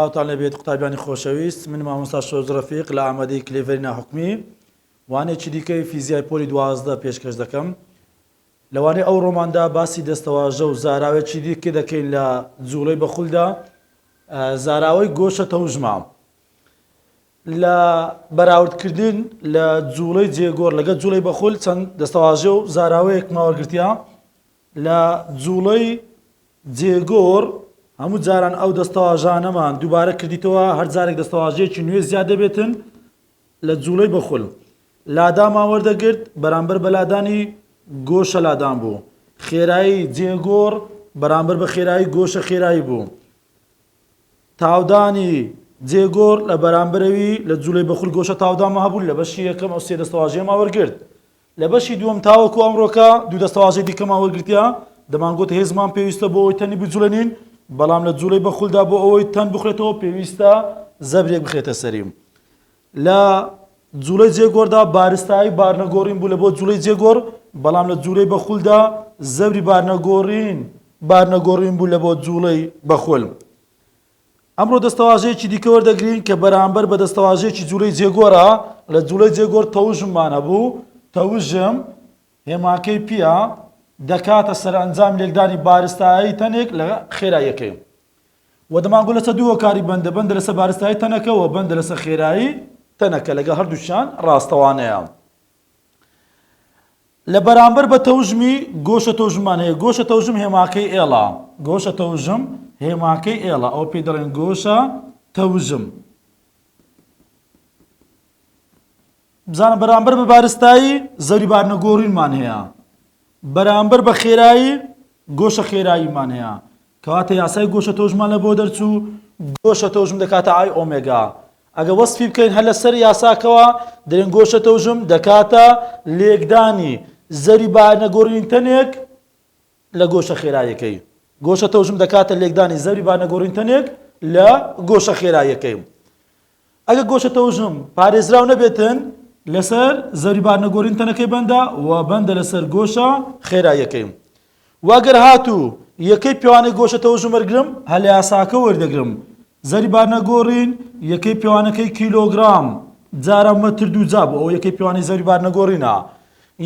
سڵاوتان لەبێت قوتابیانی خۆشەویست من مامۆستا شۆز ڕفیق لە ئامادەی کلێڤەری ناحکمی وانێکی دیکەی فیزیای پۆلی دوازدە پێشکەش دەکەم لەوانەیە ئەو ڕۆماندا باسی دەستەواژە و زاراوێکی دیکە دەکەین لە جووڵەی بەخولدا، زاراوەی گۆشە تەوژمە. لە بەراوردکردن لە جووڵەی جێگۆڕ لەگەڵ جووڵەی بەخول چەند دەستەواژە و زاراوەیەک ماوەگرتیا لە جووڵەی جێگۆڕ هەموو جاران ئەو دەستەواژانەمان دووبارە کردیتەوە هەر جارێک دەستەواژەیەکی نوێ زیاد دەبێتن لە جووڵەی بخول لادامان وەردەگرت، بەرامبەر بە لادانی گۆشە لادان بوو، خێرایی جێگۆڕ بەرامبەر بە خێرایی گۆشە خێرایی بوو، تاودانی جێگۆڕ لە بەرامبەرەوی لە جووڵەی بخول گۆشە تاودانمان هەبوو، لە بەشی یەکەم ئەو سێ دەستەواژەیەمان وەرگرت. لە بەشی دووەم تاوەکو ئەمڕۆکە دوو دەستەواژەی دیکەمان وەرگرتیە، دەمانگوت هێزمان پێویستە بۆ ئەوەی تەنی بجوڵێنین، بەڵام لە جوڵەی بەخولدا بۆ ئەوەی تەن بخولێتەوە پێویستە زەبرێک بخرێتە سەریم. لە جوڵەی جێگۆڕدا بارستایی بارنەگۆڕین بوو لە بۆ جوڵەی جێگۆڕ، بەڵام لە جوڵەی بەخولدا زەبری بارنەگۆڕین بارنەگۆڕین بوو لە بۆ جوڵەی بەخول. ئەمڕۆ دەستەواژەیەکی دیکە وەردەگرین کە بەرامبەر بە دەستەواژەیەکی جوولەی جێگۆرە لە جوولەی جێگۆر تەوژممان هەبوو تەوژم هێماکەی پییە دەکاتە سەرئەنجامی لێکدانی بارستایی تەنێک لە خێراییەکەی و دەمانگو لەسەر دوو هۆکاری بەندە بەندە لەسەر بارستایی تەنەکە و بەندە لەسەر خێرایی تەنەکە لەگەڵ هەردووشیان ڕاستەوانەیە لە بەرامبەر بە تەوژمی گۆشە تەوژممان هەیە گۆشە تەوژم هێماکەی ئێڵا گۆشە تەوژم هێماکەی ئێڵا ئەو پێی دەڵێن گۆشە تەوژم بزانە بەرامبەر بە بارستایی زەوی بارنە گۆڕینمان هەیە بەرامبەر بە خێرایی گۆشە خێراییمان هەیە کەواتە یاسای گۆشە تۆژمە لە بۆ دەرچوو گۆشە تۆژم دەکاتە ئای ئۆمێگا ئەگە وەسفی بکەین هەر لەسەر یاساکەوە دەرێن گۆشە تۆژم دەکاتە لێکدانی زەری بارنە گۆرین تەنێک لە گۆشە خێرایەکەی گۆشە تۆژم دەکاتە لێکدانی زەری بانەگۆرین تەنێک لە گۆشە خێرایەکەی ئەگەر گۆشە تەوژم پارێزراو نەبێتن لەسەر زەوری بارنەگۆرین تەنەکەی بەندە و بەندە لەسەر گۆشە خێراییەکەی و ئەگەر هاتوو یەکەی پێوانەی گۆشە تەوژم وەرگرم هەر لە یاساکە وەردەگرم زەری بارنەگۆڕین یەکەی پێوانەکەی کیلۆگرام جارە مەتر دوو جا بۆ ئەو یەکەی پێوانەی زەوری بارنەگۆڕینە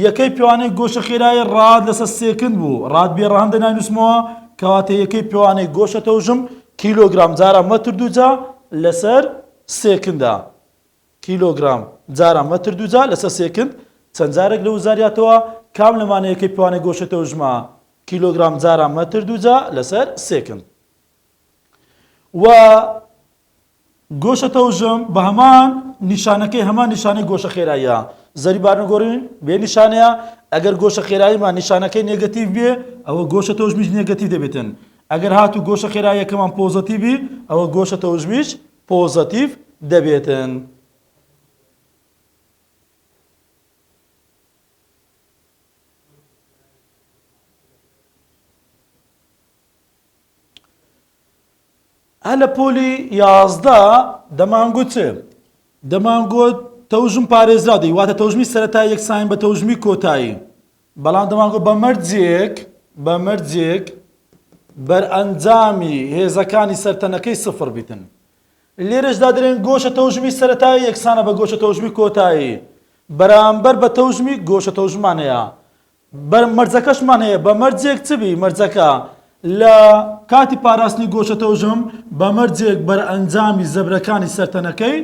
یەکەی پێوانەی گۆشە خێرایی ڕات لەسەر سێکند بوو، ڕات بێ ڕەهەند دە ناینووسمەوە، کەواتە یەکەی پێوانەی گۆشە تەوژم کیلۆگرام جارا مەتر دووجا لەسەر سێکندە. کیلۆگرام جارا مەتر دووجا لەسەر سێکند چەند جارێک لە وزاریاتەوە؟ کام لەمانە یەکەی پێوانەی گۆشە تەوژمە؟ کیلۆگرام جارا مەتر دووجا لەسەر سێکند. وە گۆشە تەوژم بە هەمان نیشانەکەی هەمان نیشانەی گۆشە خێراییە زەری بارنەگۆڕین بێ نیشانەیە ئەگەر گۆشە خێراییمان نیشانەکەی نێگەتیڤ بێ ئەوە گۆشە تەوژمیش نێگەتیڤ دەبێتن ئەگەر هاتوو گۆشە خێراییەکەمان پۆزەتیڤی ئەوە گۆشە تەوژمیش پۆزەتیڤ دەبێتن. هەر لە پۆلی یازدە دەمانگوت دەمانگوت تەوژم پارێزراو دەی واتە تەوژمی سەرەتای یەکسانین بە تەوژمی کۆتایی بەڵام دەمانگوت بە مەرجێک بە مەرجێک بەرئەنجامی هێزەکانی سەرتەنەکەی سفر بیتن لێرەشدا دەرێن گۆشە تەوژمی سەرەتایی یەکسانە بە گۆشە تەوژمی کۆتایی بەرامبەر بە تەوژمی گۆشە تەوژمانەیە بە مەرجەکەشمان هەیە بە مەرجێک چ بی مەرجەکە لە کاتی پاراستنی گۆشە تەوژم بە مەرجێک بەرئەنجامی زەبرەکانی سەر تەنەکەی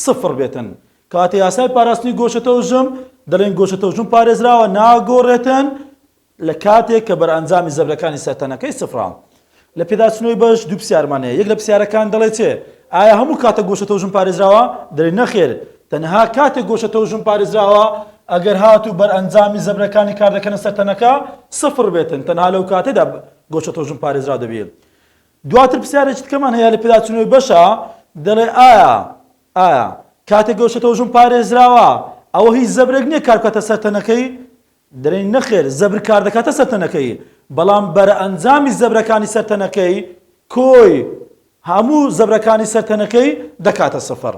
سفر بێتن کاتی یاسای پاراستنی گۆشە تەوژم دەڵێن گۆشە تەوژم پارێزراوە ناگۆڕێتن لە کاتێک کە بەرئەنجامی زەبرەکانی سەر تەنەکەی سفراوە لە پێداچوونەوەی بەش دوو پرسیارمان هەیە، یەک لە پرسیارەکان دەڵێت چێ؟ ئایا هەموو کاتە گۆشە تەوژم پارێزراوە؟ دەڵێت نەخێر، تەنها کاتێک گۆشە تەوژم پارێزراوە ئەگەر هات و بەرئەنجامی زەبرەکانی کاردەکەنە سەر تەنەکە سفر بێتن، تەنها لەو کاتەدا گۆشە تەوژم پارێزراو دەبێت. دواتر پرسیارێکی تکەمان هەیە لە پێداچوونەوەی بەشە، دەڵێ ئایا ئایا کاتێک گۆشە تەوژم پارێزراوە ئەوە هیچ زەبرێک نییە کاربکاتە سەر تەنەکەی؟ دەرێی نەخێر زەبر کار دەکاتە سەر تەنەکەی بەڵام بەرەئەنجامی زەبرەکانی سەر تەنەکەی کۆی هەموو زەبرەکانی سەر تەنەکەی دەکاتە سفر.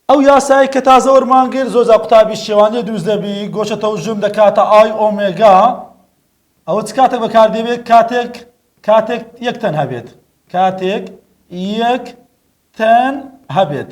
ئەو یاسایە کە تازە وەرمانگرت زۆر جا قوتابی شێوانێ دروست دەبی گۆشە تەوژم دەکاتە ئای ئۆمێگا ئەوە چ کاتێک بەکاردێبێت کاتێک کاتێک یەک تەن هەبێت کاتێک یەک تەن هەبێت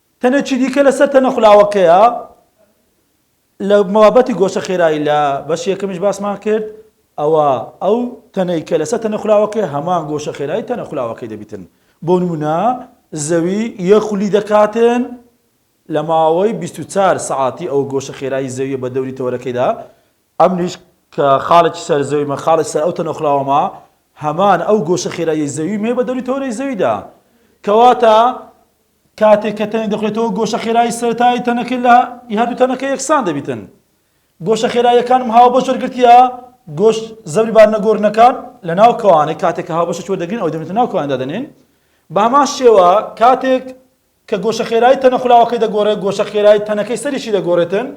تەنێکی دیکە لە سەر تەنە خولاوەکەیە لە مەوابەتی گۆشە خێرایی لە بەشیەکەمیش باسمان کرد ئەوە ئەو تەنەی کە لەسەر تەنە خولاوەکەی هەمان گۆشە خێرایی تەنە خولاوەکەی دەبیتن بۆ نمونە زەوی یە خولی دەکاتن لە ماوەی 24 سعاتی ئەو گۆشە خێرایی زەویە بە دەوری تەوەرەکەیدا ئەمنیش کە خاڵێکی سەر زەوی مە خاڵێک سەر ئەو تەنە خولاوەما هەمان ئەو گۆشە خێرایی زەوی مێ بە دەوری تەوەرەی زەویدا کەواتە کاتێک کە تەنێک دەخورێتەوە گۆشە خێرایی سەرەتایی تەنەکە لە ی هەردوو تەنەکە یەکسان دەبیتن گۆشە خێراییەکانم هاوبەش وەرگرتیە گۆش زەبری بارنە گۆرنەکان لە ناو کەوانێک کاتێک کە هاوبەشە چوە دەگرین ئەو دەبێتە ناو کەواندا دەنێن بە هەمان شێوە کاتێک کە گۆشە خێرایی تەنە خولاوەکەی دەگۆڕێت گۆشە خێرایی تەنەکەی سەریشی دەگۆڕێتن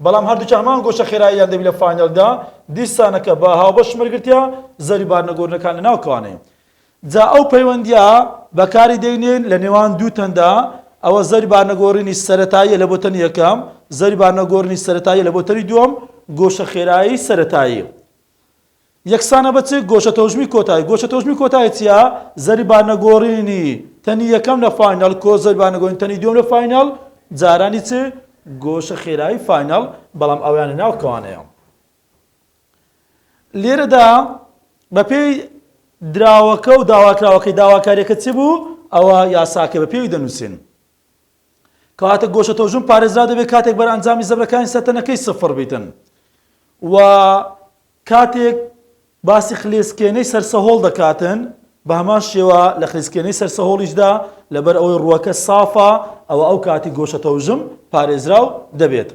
بەڵام هەردووچ هەمان گۆشە خێراییان دەبی لە فانێلدا دیسانەکە بە هاوبەش مەرگرتیا زەری بارنەگۆرنەکان لە ناو کەوانەیە جا ئەو پەیوەندییە بەکاری دەینێین لە نێوان دوو تەندا، ئەوە زەوری بارنەگۆڕینی سەرەتاییە لە بۆ تەنی یەکەم، زەوری بارنەگۆڕینی سەرەتاییە لە بۆ تەنی دووەم، گۆشە خێرایی سەرەتایی یەکسانە بە چ؟ گۆشە تەوژمی کۆتایی، گۆشە تەوژمی کۆتایی چییە؟ زەوری بارنەگۆڕینی تەنی یەکەم لە فاینەڵ کۆ زەوری بارنەگۆڕینی تەنی دووەم لە فاینەڵ، جارانی چ؟ گۆشە خێرایی فاینەڵ، بەڵام ئەویان لە ناو کەوانەیە؟ لێرەدا بەپێی دراوەکە و داواکراوەکەی داواکاریەکە چ بوو ئەوە یاساکە بە پێوی دەنووسێن کەواتە گۆشە تۆژون پارێزرا دەبێت کاتێک بەر ئەنجامی زەبرەکانی سەتەنەکەی سفر بیتن و کاتێک باسی خلێسکێنەی سەرسەهۆڵ دەکاتن بە هەمان شێوە لە خلیسکێنەی سەرسەهۆڵیشدا لەبەر ئەوەی ڕووەکە سافە ئەوە ئەو کاتی گۆشە تەوژم پارێزراو دەبێت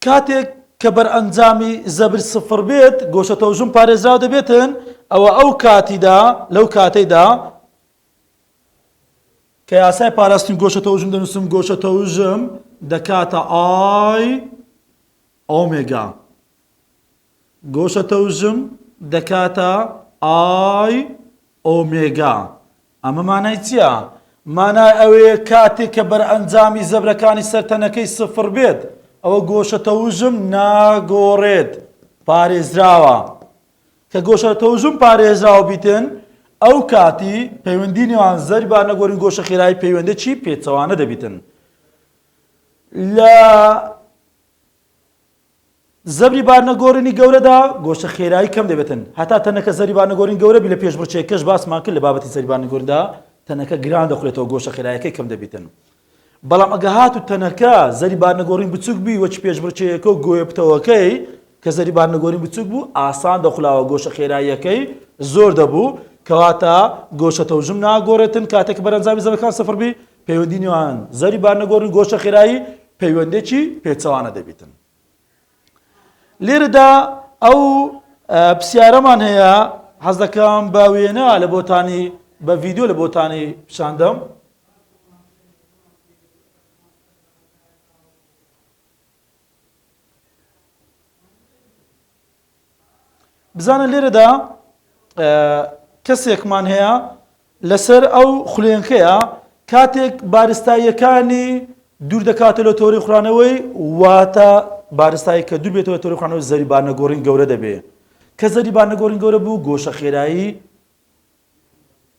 کاتێک کە بەرئەنجامی زەبر سفر بێت گۆشە تەوژم پارێزراو دەبێتن ئەوە ئەو کاتیدا لەو کاتەیدا کە یاسای پاراستنی گۆشە تەوژم دەنووسم گۆشە تەوژم دەکاتە ئای ئۆمێگا گۆشە تەوژم دەکاتە ئای ئۆمێگا ئەمە مانای چیە؟ مانای ئەوەیە کاتێک کە بەرئەنجامی زەبرەکانی سەر تەنەکەی سفڕ بێت ئەوە گۆشە تەوژم ناگۆڕێت پارێزراوە کە گۆشە تەوژم پارێزراو بیتن ئەو کاتی پەیوەندی نێوان زەربی با نەگۆرین گۆشە خێرایی پەیوەندێکی پێچەوانە دەبیتن لە زەبری بارنەگۆرنی گەورەدا گۆشە خێرایی کەم دەبێتن هەتا تەنەکە زەبری بارنەگۆرنی گەورە بی لە پێشمرچێکەش باسمان کرد لە بابەتی زەبری بارنەگۆرندا تەنەکە گران دەخورێتەوە گۆشە خێرایەکەی کەم دەبیتن بەڵام ئەگە هات و تەنەکە زەری بارنەگۆڕین بچوک بی وەچ پێشبرچەیەکە و گۆیە پتەوەکەی کە زەری بارنەگۆرین بچوک بوو ئاسان دەخلاوە گۆشە خێراییەکەی زۆر دەبوو کەواتە گۆشە تەوژم ناگۆڕێتن کاتێک بەرەنجامی زەبەکان سفر بی پەیوەندی نێوان زەری بارنەگۆڕ و گۆشە خێرایی پەیوەندێکی پێچەوانە دەبیتن لێرەدا ئەو پرسیارەمان هەیە حەز دەکەم بە وێنە لە بۆتانی بە ڤیددیو لە بۆتانی پیشاندەم بزانە لێرەدا کەسێکمان هەیە لەسەر ئەو خولێنکەیە کاتێک بارستاییەکانی دوور دەکاتە لە تۆری خورانەوەی واتە بارستایی کە دوور بێتەوە تۆری خورانەوەی زەریبانەگۆڕین گەورە دەبێ کە زەریبانەگۆڕین گەورە بوو گۆشە خێرایی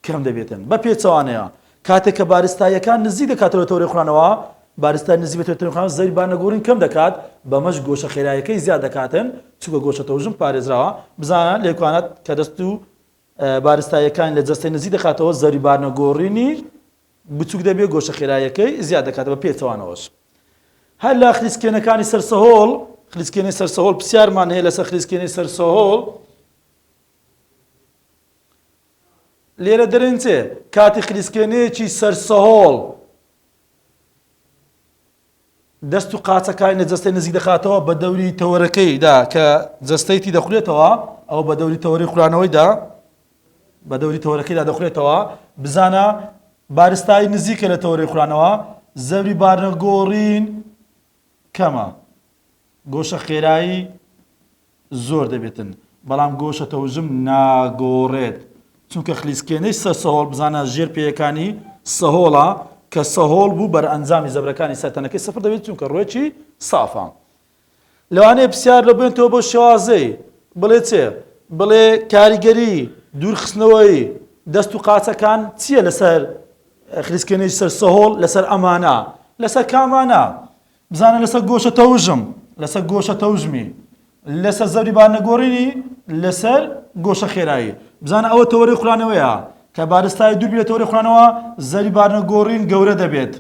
کەم دەبێتن بە پێچەوانەیە کاتێک کە بارستاییەکان نزیک دەکاتەوە تەورەی خورانەوە بارستای نزیک بە تەورەی خوران زەوی بانەگۆڕین کەم دەکات بەمەش گۆشە خێرایەکەی زیاد دەکاتن چونکە گۆشە تەوژم پارێزراوە بزانە لێکوانەت کە دەست و بارستاییەکان لە جەستەی نزیک دەکاتەوە زەوی بارنەگۆڕینی بچووک دەبێت گۆشە خێرایەکەی زیاد دەکات بە پێچەوانەوەش هەر لە خلیسکێنەکانی سەرسەهۆڵ خلیسکێنەی سەرسەهۆڵ پرسیارمان هەیە لەسەر خلیسکێنەی سەرسەهۆڵ لێرە دەرێنچێ کاتی خلیسکێنەیەکی سەرسەهۆڵ دەست و قاچەکانی لە جەستەی نزیک دەخاتەوە بە دەوری تەوەرەکەیدا کە جەستەی تی دەخولێتەوە ئەو بە دەوری تەوەری خورانەوەیدا بە دەوری تەوەرەکەیدا دەخولێتەوە بزانە بارستایی نزیکە لە تەوەری خورانەوە زەوری بارنەگۆڕین کەمە، گۆشە خێرایی زۆر دەبێتن، بەڵام گۆشە تەوژم ناگۆڕێت، چونکە خلیسکێنەی سەر سەهۆڵ بزانە ژێر پێیەکانی سەهۆڵە، کە سەهۆڵ بوو بەرئەنجامی زەبرەکانی سەر تەنەکەی سفر دەبێت چونکە ڕوێکی سافە. لەوانەیە پرسیار لەو بێنتەوە بۆ شێوازەی بڵێ چێ؟ بڵێ کاریگەری دوورخستنەوەی دەست و قاچەکان چییە لەسەر خلیسکێنەی سەر سەهۆڵ لەسەر ئەمانە لەسەر کامانە بزانە لەسەر گۆشە تەوژم لەسەر گۆشە تەوژمی لەسەر زەوی بار نەگۆڕینی لەسەر گۆشە خێرایی بزانە ئەوە تەوەری خورانەوەیە کە بارستای دوور بێت تەوەری خورانەوە زەری بار نەگۆڕین گەورە دەبێت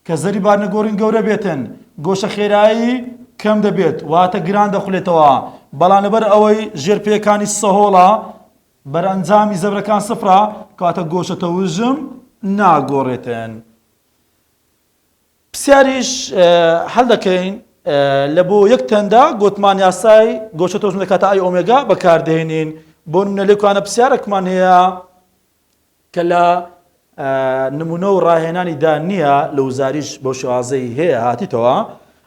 کە زەری بار نەگۆڕین گەورە بێتن گۆشە خێرایی کەم دەبێت واتە گران دەخولێتەوە بەڵام لەبەر ئەوەی ژێرپێکانی سەهۆڵە بەرئەنجامی زەبرەکان سفرە کەواتە گۆشە تەوژم ناگۆڕێتن. پرسیاریش هەل دەکەین لە بۆ یەک تەندا گۆتمان یاسای گۆشە تەوژم لە کاتە ئای ئۆمێگا بەکاردێنین بۆ نمونە لێکوانە پرسیارەکمان هەیە کە لە نمونە و ڕاهێنانی دا نییە لە وزاریش بۆ شوازەی هەیە هاتیتەوە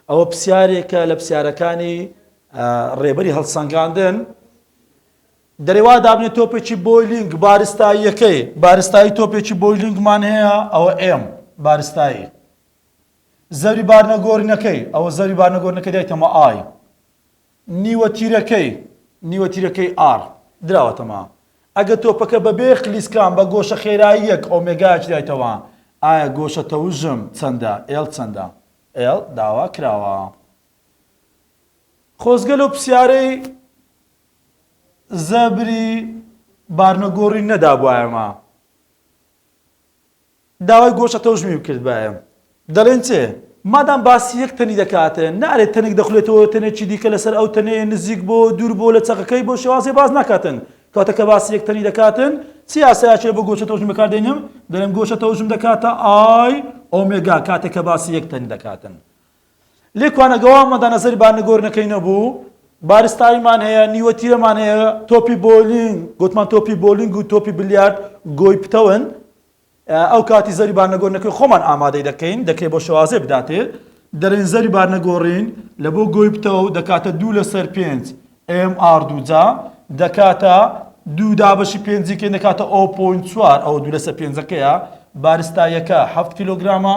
ئەوە پرسیارێکە لە پرسیارەکانی ڕێبەری هەڵسەنگاندن دەرێوا دابنێ تۆپێکی بۆیلینگ بارستاییەکەی بارستایی تۆپێکی بۆیلینگمان هەیە ئەوە ئێم بارستایی زەوی بارنەگۆرنەکەی ئەوە زەوی بارنەگۆرنەکە دایتەمە ئای نیوە تیرەکەی نیوە تیرەکەی ئار دراوەتەما ئەگە تۆپەکە بە بێ خلیسکان بە گۆشە خێراییەک ئۆمێگاچ دایتەوە ئایا گۆشە تەوژم چەندە ئێل چەندە ئێل داوا کراوە خۆزگەل و پرسیارەی زە بری بارنە گۆڕی نە دا بوایە مە داوای گۆشە تەوژمی بکرد بایە دەلێن چێ مادام باسی یەک تەنی دەکاتێ نارێت تەنێک دەخولێتەوە تەنێکی دیکە لەسەر ئەو تەنێ نزیک بۆ دوور بۆ لە چەقەکەی بۆ شێوازی باز ناکاتن کاتە کە باسی یەک تەنی دەکاتن چی یاسایەکێ بۆ گۆشە تەوژم بەکاردێنم دەڵێم گۆشە تەوژم دەکاتە ئای ئۆمێگا کاتێک کە باسی یەک تەنی دەکاتن لێ کوانەگەوا مەدا نەزەری با نگۆر نەکەینە بوو بارستاییمان هەیە نیوە تیرەمان هەیە تۆپی بۆلینگ گوتمان تۆپی بۆلینگ و تۆپی بلیارد گۆی پتەون ئەو کاتی زەری با نەگۆر نەکەین خۆمان ئامادەی دەکەین دەکرێت بۆ شوازێ بداتێ دەرێن زەری با نەگۆڕین لە بۆ گۆی پتەو دەکاتە دوو لەسەر پێنج ئێم ئاڕ دوو جا دەکاتە دوو دابەشی پێنجیکەین دەکاتە ئۆ پۆینت چوار ئەوە دوو لەسەر پێنجەکەیە بارستایەکە حەفت کیلۆگرامە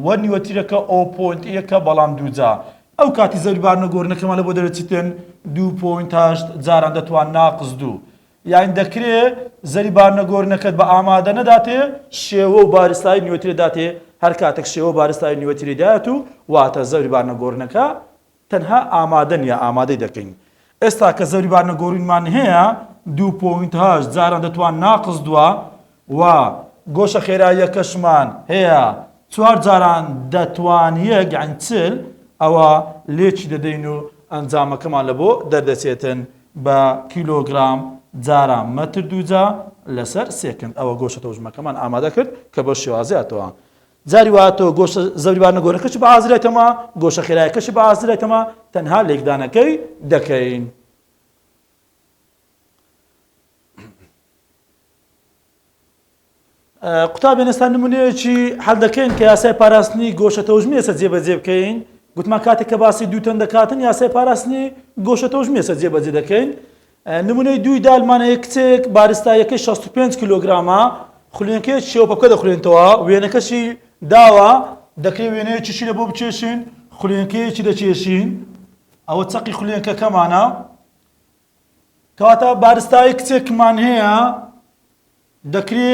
و نیوەتیرەکە ئۆ پۆینت یەکە بەڵام دوو جا ئەو کاتی زەوی بارنە گۆرنەکەمان لە بۆ دەرە چیتن دوو پۆینت هەشت جاران دەتوان ناقز دوو یاین دەکرێ زەری بارنە گۆرنەکەت بە ئامادە نەداتێ شێوە و بارستای نیوەتیرە داتێ هەر کاتێک شێوە بارستای نیوەتیرەی دایەت و واتە زەوی بارنە گۆرنەکە تەنها ئامادەن یا ئامادەی دەکەین. ئێستا کە زەوری بار نەگۆرینمان هەیە دوو پۆینت هەشت جاران دەتوان ناقس دوە و گۆشە خێراییەکەشمان هەیە چوار جاران دەتوان یەک یانی چل ئەوە لێکی دەدەین و ئەنجامەکەمان لە بۆ دەردەچێتن بە کیلۆگرام جاران مەتر دووجا لەسەر سێکند ئەوە گۆشە تەوژمەکەمان ئامادە کرد کە بەو شێوازەیە تەوە جاری وهاتووە گۆشە زەبریبارنە گۆرەکەشی بە ئازری ئەکەمەوە، گۆشە خێرایەکەشی بە ئازری ئەکەمەوە، تەنها لێکدانەکەی دەکەین. قوتابیان ئێستا نمونەیەکی حەل دەکەین کە یاسای پاراستنی گۆشە تەوژمی ئێستا جێبەجێ بکەین گوتمان کاتێک کە باسی دووتەن دەکاتن یاسای پاراستنی گۆشە تەوژمی ئێستا جێبەجێ دەکەین نمونەی دووی دالمان هەیە کچەیەک بارستاییەکەی شەست و پێنج کیلۆگرامە، خولێنکەیەک شێوە پەپکە دەخولێنتەوە، وێنەکەشی داوە، دەکرێت وێنەیەکی شینە بۆ بکێشین، خولێنکەیەکی دەکێشین، ئەوە چەقی خولێنکەکەمانە، کەواتە بارستایی کچێکمان هەیە، دەکرێ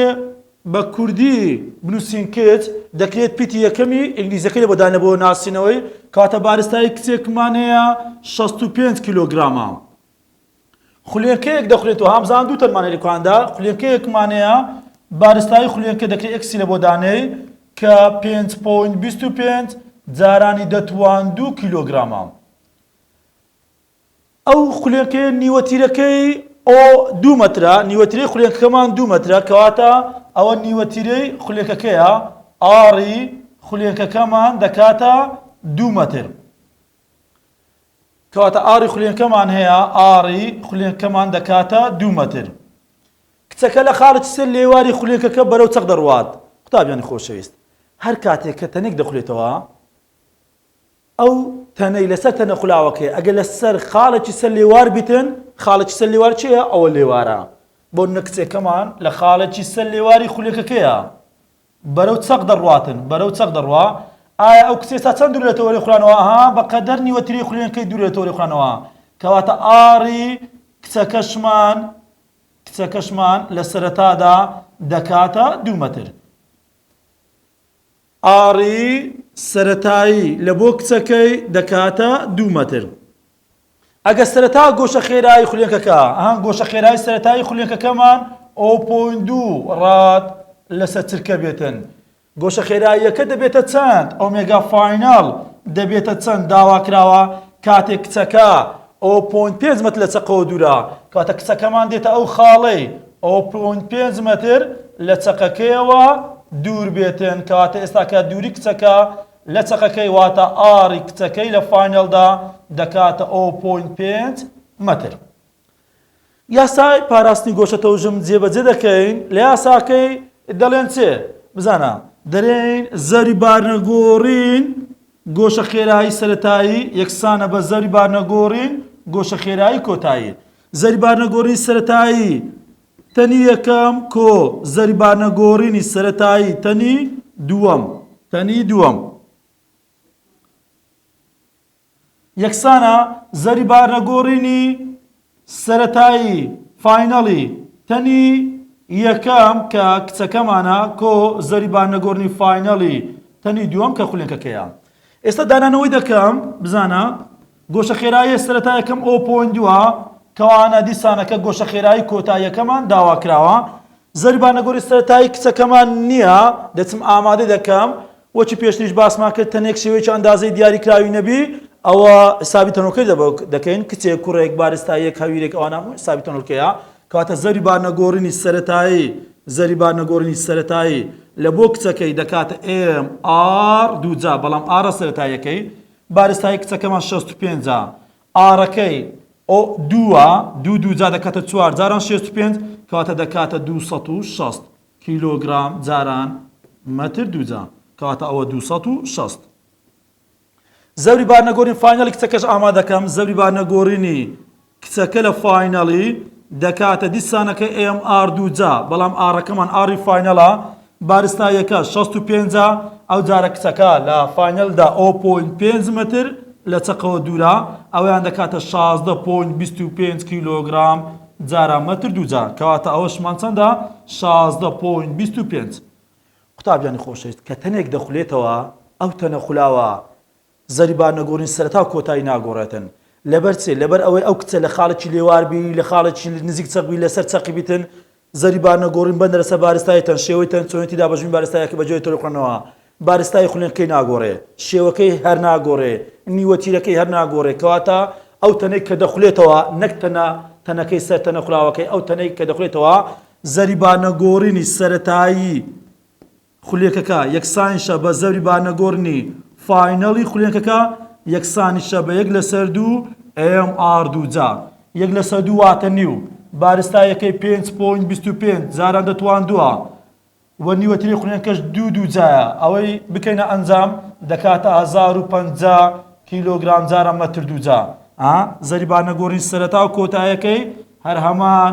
بە کوردی بنووسین کچ، دەکرێت پیتی یەکەمی ئینگلیزیەکەی لە بۆ دانێ بۆ ناسینەوەی، کەواتە بارستایی کچێکمان هەیە شەست و پێنج کیلۆگرامە. خولێنکەیەک دەخولێنێت و هامزان دوو تەنمان هەیە لە کواندا، خولێنکەیەکمان هەیە بارستایی خولێنکە دەکرێ ئێکسی لە بۆ دانێی کە پێنج پۆینت بیست و پێنج جارانی دەتوان دوو کیلۆگرامە. ئەو خولێنکەیە نیوەتیرەکەی ئۆ دوو مەترە، نیوەتیرەی خولێنکەکەمان دوو مەترە، کەواتە ئەوە نیوەتیرەی خولێکەکەیە، ئاڕی خولێنکەکەمان دەکاتە دوو مەتر. کەواتە ئاڕی خولێنکەمان هەیە، ئاڕی خولێنکەمان دەکاتە دوو مەتر. کچەکە لە خاڵێکی سەر لێواری خولێنکەکە بەرەو چەق دەڕوات. قوتابیانی خۆشەویست، هەر کاتێک کە تەنێک دەخولێتەوە، ئەو تەنەی لەسەر تەنە خولاوەکەیە ئەگەر لەسەر خاڵێکی سەر لێوار بیتن خاڵێکی سەر لێوار چێە ئەوە لێوارە بۆ نەکچێکەمان لە خاڵێکی سەر لێواری خولەکەکەیە بەرەو چەق دەڕاتن بەرەو چەق دەڕوا ئایا ئەو کچێ تا چەند دوور لە تەوەری خولانەوە ها بەقەدەر نیوەتری خولێنەکەی دوور لە تەوەری خولانەوە کەواتە ئاڕی کچەکەشمان کچەکەشمان لە سەرەتادا دەکاتە دوو مەتر ئاڕی سەرەتایی لە بۆ کچەکەی دەکاتە دوو مەتر. ئەگەر سەرەتا گۆشە خێرایی خولێکەکە، ئەها گۆشە خێرایی سەرەتایی خولێکەکەمان ئۆ پۆینت دوو ڕاد لەسەر چرکە بێتن، گۆشە خێراییەکە دەبێتە چەند؟ ئۆمێگا فایناڵ دەبێتە چەند داوا کراوە کاتێک کچەکە ئۆ پۆینت پێنج مەتر لە چەقەوە دوورە، کەواتە کچەکەمان دێتە ئەو خاڵەی، ئەو پوند پێنج مەتر لە چەقەکەیەوە دوور بێتن کەواتە ئێستا کە دووری کچەکە لە چەقەکەی واتە ئاڕی کچەکەی لە فاینەڵدا دەکاتە ئەو پوند پێنج مەتر. یاسای پاراستنی گۆشە تەوژم جێبەجێ دەکەین لە یاساکەی دەڵێن چێ بزانە. دەرێین زەوری بارنەگۆڕین گۆشە خێرایی سەرەتایی یەکسانە بە زەوری بارنەگۆڕین گۆشە خێرایی کۆتایی زەریبارنەگۆڕی سەرەتایی تەنی یەکەم، کۆ، زەریبارنەگۆڕینی سەرەتایی تەنی دووەم، تەنی دووەم. یەکسانە زەریبارنەگۆڕینی سەرەتایی، فاینەڵی، تەنی یەکەم، کە کچەکەمانە، کۆ، زەریبارنەگۆڕنی فاینەڵی تەنی دووەم، کە خولێنکەکەیە. ئێستا دانانەوەی دەکەم، بزانە. گۆشە خێراییە سەرەتایەکەم ئۆ پۆینت دووە، کەوانە دیسانەکە گۆشە خێرایی کۆتاییەکەمان داواکراوە. زەریبانە گۆری سەرەتایی کچەکەمان نییە، دەچم ئامادەی دەکەم. وەکی پێشتریش باسمان کرد تەنێک شێوەیەکی ئەندازەی دیاریکراوی نەبی ئەوە حسابی تەنۆلکەی دەکەین، کچێک، کوڕێک، بارستاییەک، هەویرێک ئەوانە هەمووی حسابی تەنۆلکەیە. کەواتە زەریبانە گۆرینی سەرەتایی زەریبانە گۆرینی سەرەتایی لە بۆ کچەکەی دەکاتە ئێم ئاڕ دوو جا، بەڵام ئاڕە سەرەتاییەکەی بارستایی کچەکەمان شەست و پێنجە ئاڕەکەی ئۆ دووە دوو دوو جا دەکاتە چوار جاران شێست و پێنج کەواتە دەکاتە دوو سەد و شەست کیلۆگرام جاران مەتر دووجا کەواتە ئەوە دوو سەد و شەست زەوری بارنەگۆرین فاینەڵی کچەکەش ئامادەکەم زەوری بارنەگۆرینی کچەکە لە فاینەڵی دەکاتە دیسانەکە ئێم ئار دووجا بەڵام ئاڕەکەمان ئاڕی فاینەڵە بارستا یەکە شەست و پێنجا ئەو جارە کچەکە لە فاینەلدا ئەو پۆین پێنج مەتر لە چەقەوە دوورا ئەویان دەکاتە شازدە پۆین بیست و پێنج کیلۆگرام جارە مەتر دووجا کەواتە ئەوەشمان چەندە شازدە پۆین بیست و پێنج قوتابیانی خۆشەویست کە تەنێک دەخولێتەوە ئەو تەنە خولاوە زەریبار نەگۆڕین سەرەتا و کۆتایی ناگۆڕێتن لەبەر چێ لەبەر ئەوەی ئەو کچە لە خاڵێکی لێوار بی لە خاڵێکی نزیک چەق بی لەسەر چەقی بیتن زەریبار نەگۆڕین بەندە لەسەر بارستای تەن شێوەی تەن چۆنێتی دابەشبوونی بارستایەکە بەجۆرێ تۆرە خوێندنەوە بارستای خولێنکەی ناگۆڕێ شێوەکەی هەر ناگۆڕێ نیوە تیرەکەی هەر ناگۆڕێ کەواتە ئەو تەنەی کە دەخولێتەوە نەک تەنە تەنەکەی سەر تەنە خولاوەکەی ئەو تەنەی کە دەخولێتەوە زەریبار نەگۆڕینی سەرەتایی خولێکەکە یەکسانیشە بە زەبری بارنەگۆرنی فاینەڵی خولێکەکە یەکسانیشە بە یەک لەسەر دوو ئێم ئاڕ دووجا یەک لەسەر دوو واتە نیو بارستا یەکەی پێنج پۆینت بیست و پێنج جاران دەتواندووە و نیوەتری خولێنکەش دوو دووجایە ئەوەی بکەینە ئەنجام دەکاتە هەزار و پەنجا کیلۆگرام جارە مەتر دووجا زەری بارنەگۆرنی سەرەتا و کۆتایەکەی هەر هەمان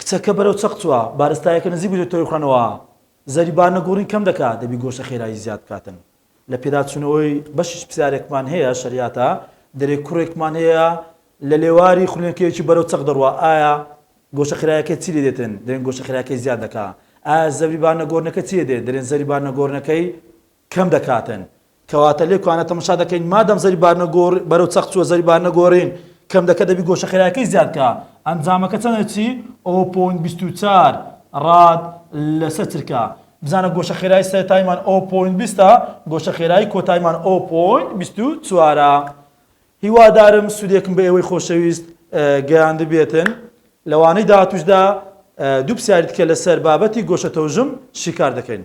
کچەکە بەرەو چەق چوە، بارستایەکە نزیک بویتە تۆوی خورانەوە، زەری بار نەگۆڕین کەم دەکا، دەبی گۆشە خێرایی زیاد بکاتن لە پێداچونەوەی، بەشیش پسیارێکمان هەیە شەریاتە، دەرێ کوڕێکمان هەیە لە لێواری خورێنکەیەکی بەرەو چەق دەڕوا ئایا گۆشە خێرایەکەی چی لێ دێتن، دەرێن گۆشە خێرایەکەی زیاد دەکا، ئایا زەری بار نەگۆرنەکە چی لێ دێ، دەرێن زەری بار نەگۆرنەکەی کەم دەکاتن کەواتە لێ کوانە تەمەشا دەکەین مادەم زەری بارنە گۆڕ بەرەو چەق چوە زەری بارنە گۆڕین کەم دەکە دەبی گۆشە خێرایەکەی زیاد کا ئەنجامەکە چەنە چی ئۆ پۆین بیست و چار ڕاد لەسە چرکە بزانە گۆشە خێرای سەرتایمان ئۆ پۆین بیستە گۆشە خێرای کۆتایمان ئۆ پۆین بیست و چوارە هیوادارم سودێکم بە ئێوەی خۆشەویست گەیاندبێتن لەوانەی داهاتوشدا دوو پسیاری تکە لەسەر بابەتی گۆشە تەوژم شیکار دەکەین.